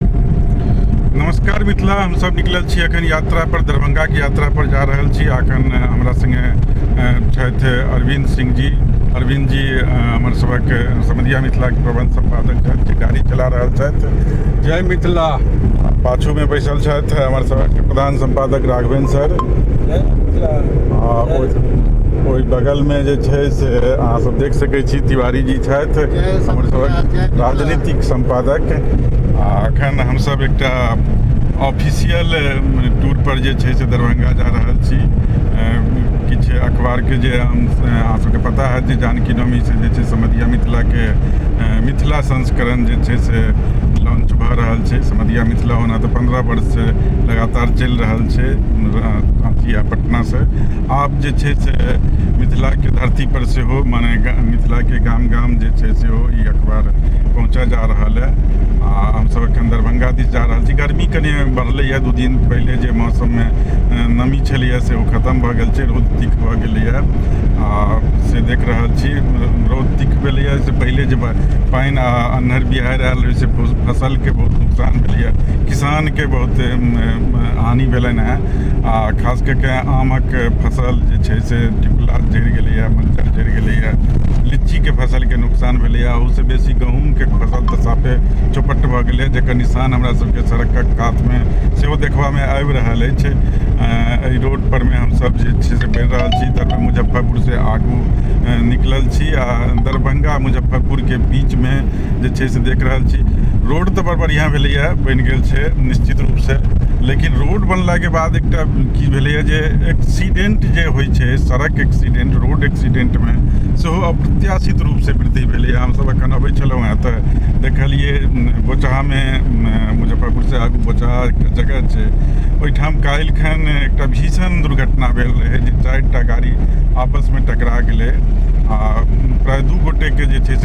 नमस्कार मिथिला हम सब निकलल छी अखन यात्रा पर दरभंगा के यात्रा पर जा रहल छी अखन हमरा संगे छथि अरविंद सिंह जी अरविंद जी हमर सबक समधिया मिथिला के प्रबंध संपादक छथि जे गाड़ी चला रहल छथि जय मिथिला पाछू में बैसल छथि हमर सबक प्रधान संपादक राघवेन सर जय मिथिला ओहि बगलमे जे छै से अहाँसभ देख सकैत छी तिवारी जी छथि हमर सभक राजनीतिक सम्पादक अखन हमसब एकटा ऑफिशियल टूर पर जे छै से दरभंगा जा रहल छी किछु अखबारके जे अहाँ सबके पता है जे जानकी नवमी से जे छै समधिया मिथिलाके मिथिला संस्करण जे छै से लॉन्च भऽ रहल छै समधिया मिथिला होना तऽ पन्द्रह वर्षसँ लगातार चलि रहल छै राँची आ पटनासँ आब जे छै से मिथिलाके धरती पर सेहो मने मिथिलाके गाम गाम जे छै सेहो ई अखबार पहुँचा जा रहल है आ हमसब एखन दरभंगा दिस जा रहल छी गर्मी कनि बढ़लैए दू दिन पहिले जे मौसममे नमी छलैए से ओ खतम भऽ गेल छै रौद तीख भऽ गेलैए आ से देख रहल छी रौद तीख भेलैए से पहिले जे पानि आ अन्हर बिहारि आयल रहै से फसलके बहुत नुकसान भेलैए किसानके बहुत हानि भेलनि हेँ आ खास कऽ के आमक फसल जे छै से टिकुला जरि गेलैए मज्जर जरि गेलैए लीचीके फसलके नुकसान भेलैए ओहिसँ बेसी गहूँमके फसल तऽ साफे चौपट भऽ गेलै जकर निशान हमरा सबके सड़कक कातमे सेहो देखबामे आबि रहल अछि एहि रोड परमे हमसब जे छै से बढ़ि रहल छी तऽ मुजफ्फरपुरसँ आगू निकलल छी आ दरभंगा मुजफ्फरपुरके बीचमे जे छै से देख रहल छी रोड तऽ बड़ बढ़िआँ भेलैए बनि गेल छै निश्चित रूपसँ लेकिन रोड बनलाके बाद एकटा की भेलैए जे एक्सीडेंट जे होइ छै सड़क एक्सीडेंट रोड एक्सीडेंटमे सेहो अप्रत्याशित रूपसँ वृद्धि भेलैए हमसभ एखन अबै छलहुँ हेँ तऽ देखलियै बोचहामे मुजफ्फरपुरसँ आगू बोचहा एकटा जगह छै ओहिठाम काल्हि खन एकटा भीषण दुर्घटना भेल रहै जे चारि टा गाड़ी आपसमे टकरा गेलै आ प्राय दू गोटेके जे छै से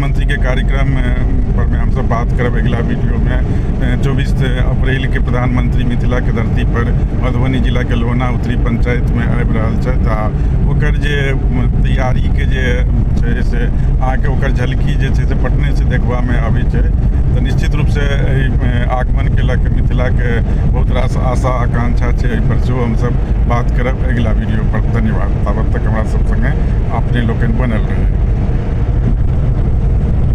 मुख्यमंत्री के कार्यक्रम पर में हमसब बात करब अगिला वीडियो में चौबीस अप्रैल के प्रधानमंत्री मिथिला के धरती पर मधुबनी जिला के लोहना उत्तरी पंचायत में आबि रहल छथि आ ओकर जे तैयारी के जे छै से अहाँके ओकर झलकी जे छै से पटने से देखबा में आबै छै तऽ निश्चित रूप से आगमन के लऽ के मिथिला के बहुत रास आशा आकांक्षा छै एहि पर सेहो हमसब बात करब अगिला वीडियो पर धन्यवाद तऽ हमरा सब संगे अपने लोकनि बनल रहै